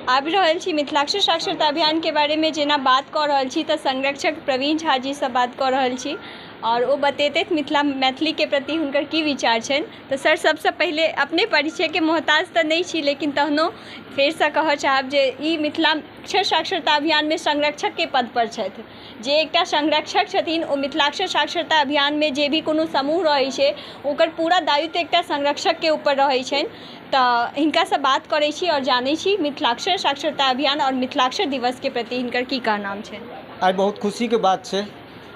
आबि रहल छी मिथिलाक्षर साक्षरता अभियानके बारेमे जेना बात कऽ रहल छी तऽ संरक्षक प्रवीण झा जीसँ बात कऽ रहल छी आओर ओ बतेतथि मिथिला मैथिलीके प्रति हुनकर की विचार छनि तऽ सर सबसँ पहिले अपने परिचयके मोहताज तऽ नहि छी लेकिन तहनो फेरसँ कहऽ चाहब जे ई मिथिलाक्षर साक्षरता अभियानमे संरक्षकके पदपर छथि जे एकटा संरक्षक छथिन ओ मिथिलाक्षर साक्षरता अभियानमे जे भी कोनो समूह रहै छै ओकर पूरा दायित्व एकटा संरक्षकके उपर रहै छनि तऽ हिनकासँ बात करै छी आओर जानै छी मिथिलाक्षर साक्षरता अभियान आओर मिथिलाक्षर दिवसके प्रति हिनकर की कहनाम छै आइ बहुत खुशीके बात छै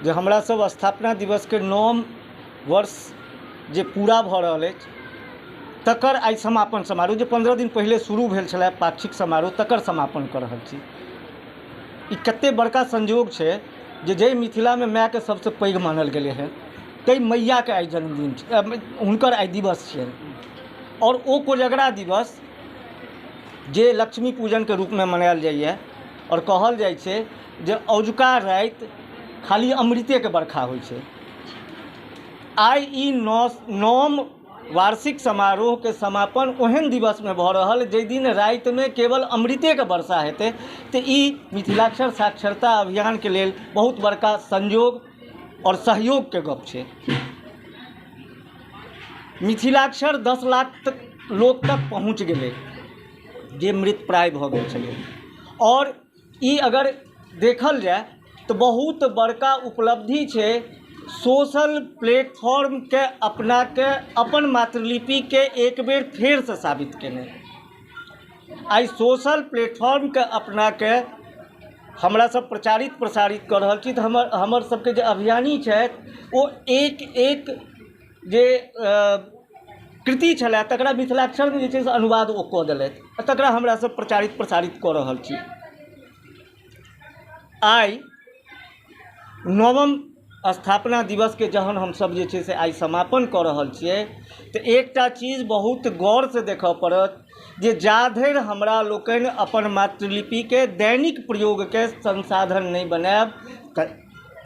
जे हमरा सब स्थापना दिवसके नवम वर्ष जे पूरा भऽ रहल अछि तकर आइ समापन समारोह जे पन्द्रह दिन पहिले शुरू भेल छलै पाक्षिक समारोह तकर समापन कऽ रहल छी ई कते बड़का संयोग छै जे जइ मिथिलामे मायके सबसँ पैघ मानल गेलै हँ तइ मैयाके आइ जन्मदिन छै हुनकर आइ दिवस छियनि आओर ओ कोजगरा दिवस जे लक्ष्मी पूजनके रूपमे मनायल जाइए आओर कहल जाइ छै जे अजुका राति खाली अमृतेके बरखा होइ छै आइ ई नओ नओम वार्षिक समारोहके समापन ओहन दिवसमे भऽ रहल जाहि दिन रातिमे केवल अमृतेके वर्षा हेतै तऽ ई मिथिलाक्षर साक्षरता अभियानके लेल बहुत बड़का संयोग आओर सहयोगके गप्प छै मिथिलाक्षर दस लाख तक लोक तक पहुँच गेलै जे मृत प्राय भऽ गेल छलै आओर ई अगर देखल जाय तऽ बहुत बड़का उपलब्धि छै सोशल प्लेटफॉर्मके अपनाके अपन मातृलिपिके एक बेर फेरसँ साबित केनाइ आइ सोशल प्लेटफॉर्मके अपनाके हमरा सब प्रचारित प्रसारित कऽ रहल छी तऽ हमर हमर सबके जे अभियानी छथि ओ एक एक जे कृति छलए तकरा मिथिलाक्षरमे जे छै से अनुवाद ओ कऽ देलथि आ तकरा हमरा सब प्रचारित प्रसारित कऽ रहल छी आइ नवम स्थापना दिवसके जहन हमसभ जे छै से आइ समापन कऽ रहल छियै तऽ एकटा चीज बहुत गौरसँ देखऽ पड़त जे जा धरि हमरा लोकनि अपन मातृलिपिके दैनिक प्रयोगके संसाधन नहि बनायब तऽ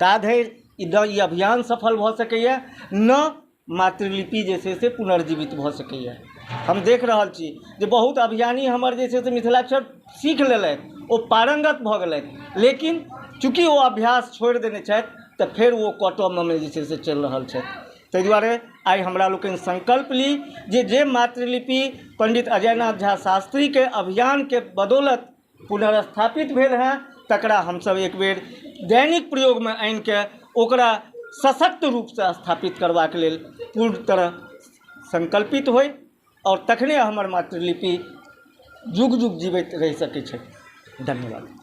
ता धरि ई द ई अभियान सफल भऽ सकैए ने मातृलिपि जे छै से पुनर्जीवित भऽ सकैए हम देख रहल छी जे बहुत अभियानी हमर जे छै से मिथिलाक्षर सीख लेलथि ओ पारङ्गत भऽ गेलथि लेकिन चूँकि ओ अभ्यास छोड़ि देने छथि तऽ फेर ओ कटऽमे जे छै से चलि रहल छथि ताहि दुआरे आइ हमरा लोकनि सङ्कल्प ली जे जे मातृलिपि पण्डित अजयनाथ झा शास्त्रीके अभियानके बदौलत पुनर्स्थापित भेल हँ तकरा हमसभ एक बेर दैनिक प्रयोगमे आनिके ओकरा सशक्त रूपसँ स्थापित करबाक लेल पूर्ण तरह सङ्कल्पित होइ आओर तखने हमर मातृलिपि युग युग जीबैत रहि सकै छथि धन्यवाद